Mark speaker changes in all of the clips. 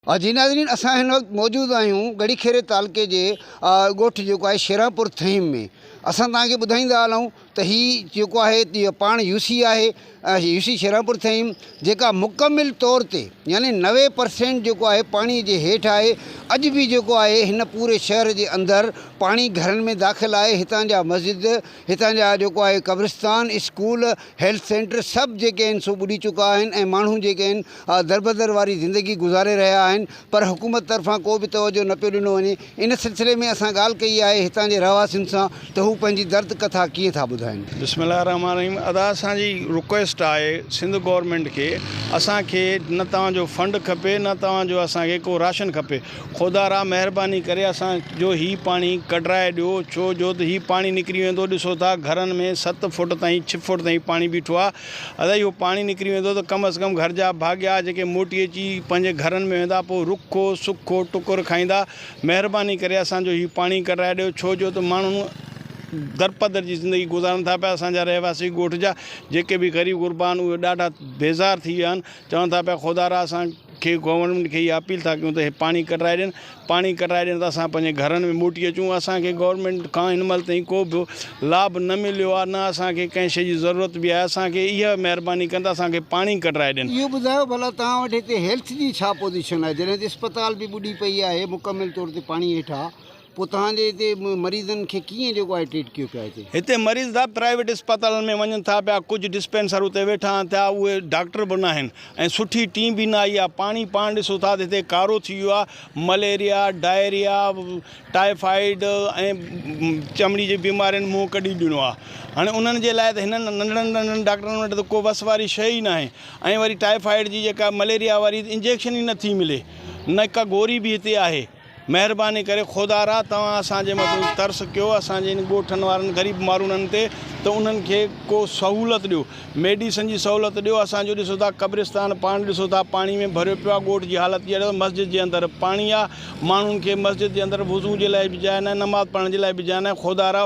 Speaker 1: جي ناظرين اسان هن وقت موجود آهيون ڳڙهي کيري تعلقي جي ڳوٺ جيڪو آهي شيرانپور ٿهيم ۾ اسان توهان کي ٻڌائيندا هلون ته هي جيڪو آهي پاڻ يو سي آهي يو سي شيرانپور ٿهيم جيڪا مڪمل طور تي يعني نوي پرسينٽ جيڪو آهي پاڻي جي هيٺ آهي اڄ به جيڪو آهي هن پوري شهر جي اندر پاڻي گهرن ۾ داخل آهي هتان جا مسجد هتان جا جيڪو آهي قبرستان، اسڪول، هيلٿ سينٽر سڀ جيڪي آهن سو ٻڏي چڪا آهن ۽ ماڻهو جيڪي آهن دربدر واري زندگي گذاري رهيا آهن پر حڪومت طرفان ڪو به توجهه نه پيو ڏنو وڃي ان سلسلي ۾ اسان ڳالهه ڪئي آهي هتان جي رهواسين سان ته هو پنهنجي درد ڪٿا ڪيئن ٿا ٻڌائين. بسم الله الرحمٰن الرحيم
Speaker 2: ادا اسان جي رڪويسٽ آهي سنڌ گورنمينٽ کي اسان کي نه توهان جو فنڊ کپي نه توهان جو اسان کي ڪو راشن کپي خودا را مهرباني ڪري اسان جو هي پاڻي ڪڍرائي ڏيو ڇو جو ته هي پاڻي نڪري ويندو ڏسو ٿا گهرن ۾ ست فوٽ تائين ڇھ فوٽ تائين پاڻي بيٺو آ ادا اهو پاڻي نڪري ويندو ته ڪم از ڪم گهر جا ڀاڳيا جيڪي موٽي اچي پنهنجي گهرن ۾ ويندا پوء رکو سکو ٽڪر کائيندا مهرباني ڪري اسان جو هي پاڻي ڪڍرائي ڏيو ڇو جو ته ماڻهو درپدر جي زندگي گذارن ٿا پيا اسان جا رهواسي ڳوٺ جا جيڪي به غريب غربا آهن اهي ڏاڍا بيزار ٿي ويا آهن چون ٿا پيا خودا را اسان کي گورنمينٽ کي اها اپيل ٿا ڪيون ته اهي پاڻي ڪڍرائي ڏين پاڻي ڪڍرائي ڏين ته اسان پنهنجي گهرن ۾ موٽي اچون اسان کي گورنمينٽ کان هن مهل تائين ڪو به لاڀ نه مليو آهي نه اسان کي ڪنهن شي جي ضرورت به آهي اسان کي اها مهرباني ڪن ته اسان کي پاڻي ڪڍرائي ڏين. اهو ٻڌايو ڀلا توهان
Speaker 1: وٽ هتي هيلٿ جي ڇا پوزيشن آهي جڏهن ته اسپتال به ٻڏي پئي آهي مڪمل طور تي پاڻي هيٺ آهي. پوء توهان جي هتي مريضن کي ڪيئن جيڪو آهي ٽريٽ ڪيو پيو هتي؟ هتي مريض صاحب
Speaker 2: پرائيويٽ اسپتالن ۾ وڃن ٿا پيا ڪجهه ڊسپينسر اتي ويٺا آهن ٿيا اهي ڊاڪٽر به ناهن ۽ سٺي ٽيم به نه آئي آهي پاڻي پاڻ ڏسو ٿا ته هتي ڪارو ٿي ويو آهي مليريا ڊائريا ٽائيفائيڊ ۽ چمڙي جي بيمارين منهن ڪڍي ڏنو آهي هاڻي انهن جي لاء ته هنن ننڍڙن ننڍڙن ڊاڪٽرن وٽ ته ڪو وس واري شيء ئي ناهي ۽ وري ٽائيفائيڊ جي جيڪا مليريا واري انجيڪشن ئي نٿي ملي نه ڪا گوري به هتي آهي مهرباني ڪري خودارا توهان اسان جي مٿن ترس ڪيو اسان جي ان ڳوٺن وارن غريب ماروڻن تي ته انهن کي ڪو سهولت ڏيو ميڊيسن جي سهولت ڏيو اسان جو ڏسو ٿا قبرستان پاڻ ڏسو ٿا پاڻي ۾ ڀريو پيو آ ڳوٺ جي حالت جهڙي ته مسجد جي اندر پاڻي آ ماڻهن کي مسجد جي اندر وضو جي لاء به جاء ناهي نماز پڙهڻ جي لاء به جاء ناهي خودارا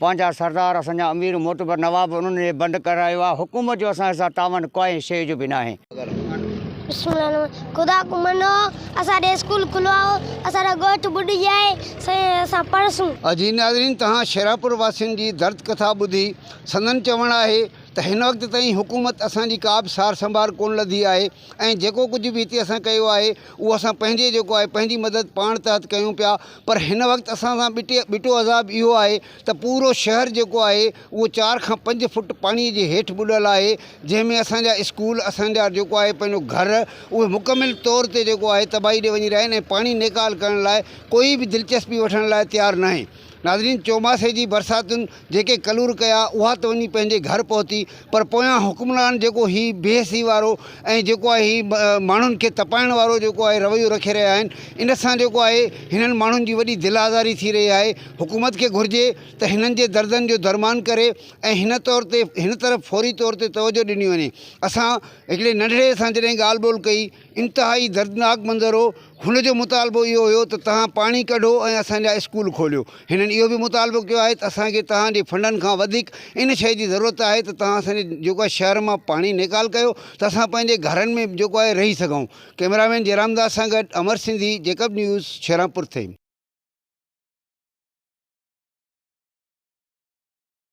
Speaker 3: پنهنجا سردار، اسان جا امير، معتبر نواب انهن کي بند ڪرايو آهي. حڪومت جو اسان سان تعاون ڪانهي شيء جو به ناهي. بسم الله الرحمٰن الرحيم خدا
Speaker 4: ڪو منو اسان ڏي اسڪول کلوايو اسان جا ڳوٺ ٻڏجي آهي سائين اسان پڙهسون. عزيز ناظرين تهان
Speaker 1: شيراپور واسين جي درد ڪٿا ٻڌي سندن چوڻ آهي ته هن وقت تائين حڪومت اسان جي ڪا به سار سنڀار ڪونه لڌي آهي، ۽ جيڪو ڪجهه به هتي اسان ڪيو آهي اهو اسان پنهنجي جيڪو آهي پنهنجي مدد پاڻ تحت ڪيون پيا پر هن وقت اسان سان ٻٽي ٻٽو عذاب اهو آهي ته پورو شهر جيڪو آهي اهو چار کان پنج فٽ پاڻي جي هيٺ ٻڏل آهي جنهن ۾ اسان جا اسڪول اسان جا جيڪو آهي پنهنجو گهر اهي مڪمل طور تي جيڪو آهي تباهي ڏي وڃي رهيا آهن ۽ پاڻي نيڪال ڪرڻ لاء ڪوئي به دلچسپي وٺڻ لاء تيار ناهي ناظرين چوماسي جي برساتن جيڪي ڪلور ڪيا اها ته وڃي پنهنجي گهر پهتي پر پويان حڪمران جيڪو هي بي حسي وارو ۽ جيڪو آهي هي ماڻهن کي تپائڻ وارو جيڪو آهي رويو رکي رهيا آهن ان سان جيڪو آهي هنن ماڻهن جي وڏي دل آزاري ٿي رهي آهي حڪومت کي گهرجي ته هنن جي دردن جو درمان ڪري ۽ هن طور تي هن طرف فوري طور تي توجه ڏني وڃي اسان هڪڙي ننڍڙي سان جڏهن ڳالهه ٻولهه ڪئي انتهائي دردناڪ منظر هو. هن جو مطالبو اهو هيو ته توهان پاڻي ڪڍو ۽ اسان جا اسڪول کوليو. هنن اهو به مطالبو ڪيو آهي ته اسان کي توهان جي فنڊن کان وڌيڪ ان شيء جي ضرورت آهي ته توهان اسان جي جيڪو آهي شهر مان پاڻي نيڪال ڪيو ته اسان پنهنجي گهرن ۾ جيڪو آهي رهي سگهون. ڪئميرا مين جئرام داس سان گڏ امر سنڌي، جيڪب نيوز، شهرامپور ٿهيم.